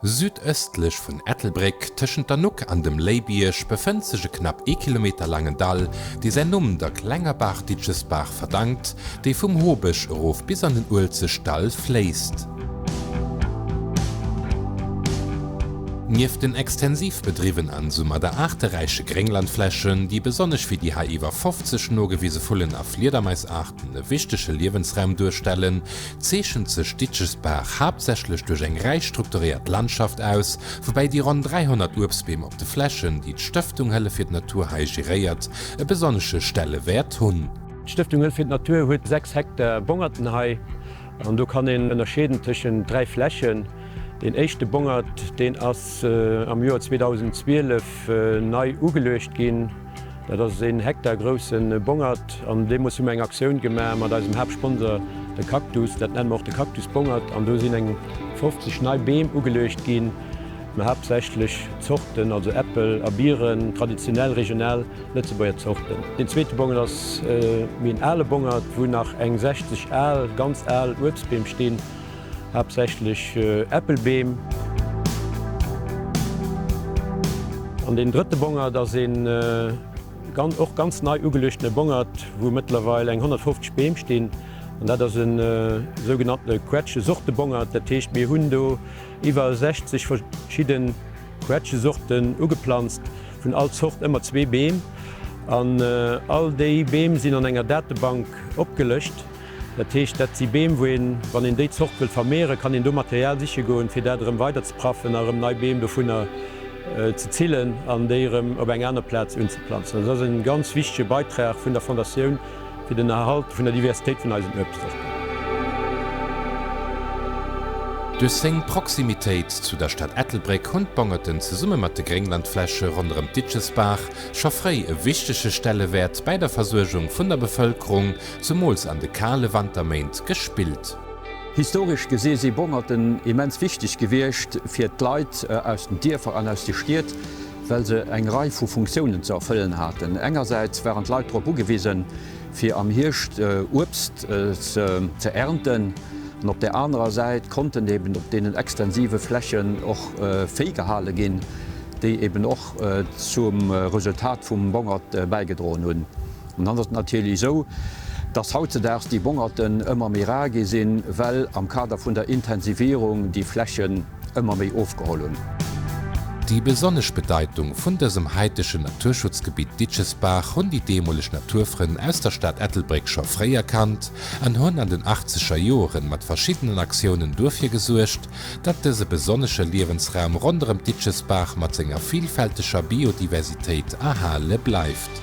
Südëstlech vun Ettelbréck, tëschent der Nuck an dem Léibierg, befënnt sech e knapp ee Kilometer laangen Dall, dee säin Numm der klenger Baach Ditchesbaach verdankt, déi vum Hobësch erof bis an den Uelzechtdall fléisst. Nieft den extensiv bedriwwen an soumat der aarteräiche Grénglandflächen, déi besonnesch fir déi hei iwwer 50 nogewise Vullen a Fliedermaisaarten e wichtege Liewensraum duerstellen, zeechent sech Ditchesbaach haaptsächlech duerch eng räich strukturéiert Landschaft aus, woubäi déi ronn 300 Uebstbeem op de Flächen, déi d'Stëftung Hëllef fir d'Natur hei geréiert, e besonnesche Stellewäert hunn. D'Stëftung Hëllef fir d'Natur huet 6 Hektar Bongerten hei, an do kann een ënnerscheeden tëschent 3 Flächen. Deen éischte Bongert, deen ass am Joer 2012 nei ugeluecht ginn. Dat ass een Hektar grousse Bongert an deemools hu mer eng Aktioun gemaach mat eisem Haaptsponsor de Cactus. Dat nenne mer och de Cactus Bongert an do sinn eng 50 nei Beem ugeluecht ginn, mä haaptsächlech Zorten, also Äppel a Biren, traditionell, regional Lëtzebuerger Zorten. Deen zweete Bongert ass méi en ale Bongert, wou nach eng 60 al, ganz al Uebstbeem stinn. haaptsächlech Äppelbeem. An deen drëtte Bongert ass ee och ganz nei ugeluechtene Bongert, wou mëttlerweil eng 150 Beem stinn. An dat ass e sougenannte Quetschesortebongert. Dat heescht, mir hunn do iwwer 60 verschidde Quetschesorten ugeplanzt, vun all Zort ëmmer zwee Beem. An all déi Beem sinn an enger Datebank opgelëscht. Dat heescht, dat si Beem, wou een, wann een déi Zort wëllt vermehren, kann een do Material siche goen, fir dat erëm weider ze praffen a erëm nei Beem dovunner ze zillen an déi erëm op eng aner Plaz unzeplanzen. Also dat ass e ganz wichtige Beitrag vun der Fondatioun fir den Erhalt vun der Diversitéit vun eisen Uebstsorten. Duerch seng Proximitéit zu der Stad Ettelbréck hunn d'Bongeten zesumme mat de Grénglandfläche ronderëm d'Ditschesbaach scho fréi e wichtege Stellewäert bäi der Versuergung vun der Bevëlkerung Zemools an de kale Wanterméint gespillt. Historesch gesi si Bommerten immens wichteg gewiescht fir d'Leit aus den Dierfer an aus de Stied, well se eng Rei vu Funktiounen ze erfëllen haten. Engersäits waren d'Leit drop ugewisen, fir am Hierscht Uebst ze ernten, an op där anerer Säit konnten eben op deenen extensive Flächen och Véi gehale ginn, déi eben och zum Resultat vum Bongert bäigedroen hunn. An dann ass et natierlech esou, dass hautzedaags déi Bongerten ëmmer méi rar gi sinn, well am Kader vun der Intensivierung déi Flächen ëmmer méi ofgeholl hunn. Déi besonnesch Bedeitung vun dësem haitegen Naturschutzgebitt Ditchesbaach hunn déi deemoleg Naturfrënn aus der Stad Ettelbréck scho fréi erkannt an hunn an den achtzeger Joeren mat verschiddenen Aktiounen duerfir gesuergt, datt dëse besonnesche Liewensraum ronderëm d'Ditchesbaach mat senger vilfälteger Biodiversitéit erhale bleift.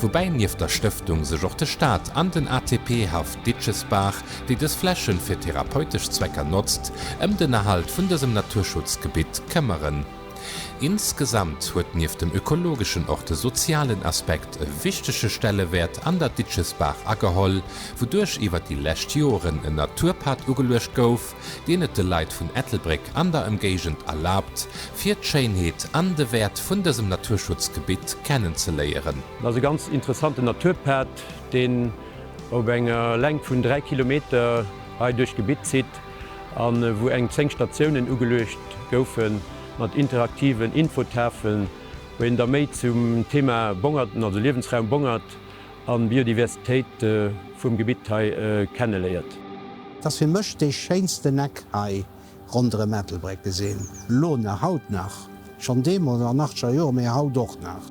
Woubäi nieft der Stëftung sech och de Staat an den ATP-Haff Ditschesbaach, déi dës Flächen fir therapeutesch Zwecker notzt, ëm den Erhalt vun dësem Naturschutzgebitt këmmeren. Insgesamt huet nieft dem ökologeschen och de sozialen Aspekt e wichtege Stellewäert an der Ditschesbaach ageholl, wouduerch iwwer déi lescht Joren en Naturpad ugeluecht gouf, dien et de Leit vun Ettelbréck an der Emgéigend erlaabt, fir d'Schéinheet an de Wäert vun dësem Naturschutzgebitt kennenzeléieren. Et ass e ganz interessanten Naturpad, deen op enger Längt vun 3 Kilometer hei duerch d'Gebitt zitt a wou eng 10 Statiounen ugeluecht goufe mat interaktiven Infotafeln, wou een da méi zum Thema Bongerten, also Liewensraum Bongert an d'Biodiversitéit vum Gebitt hei kenneléiert. Et ass fir mech dee schéinsten Eck hei ronderëm Ettelbréck gesinn, elo nach, haut nach, schonn deemools an achtscher Joer, mee haut och nach.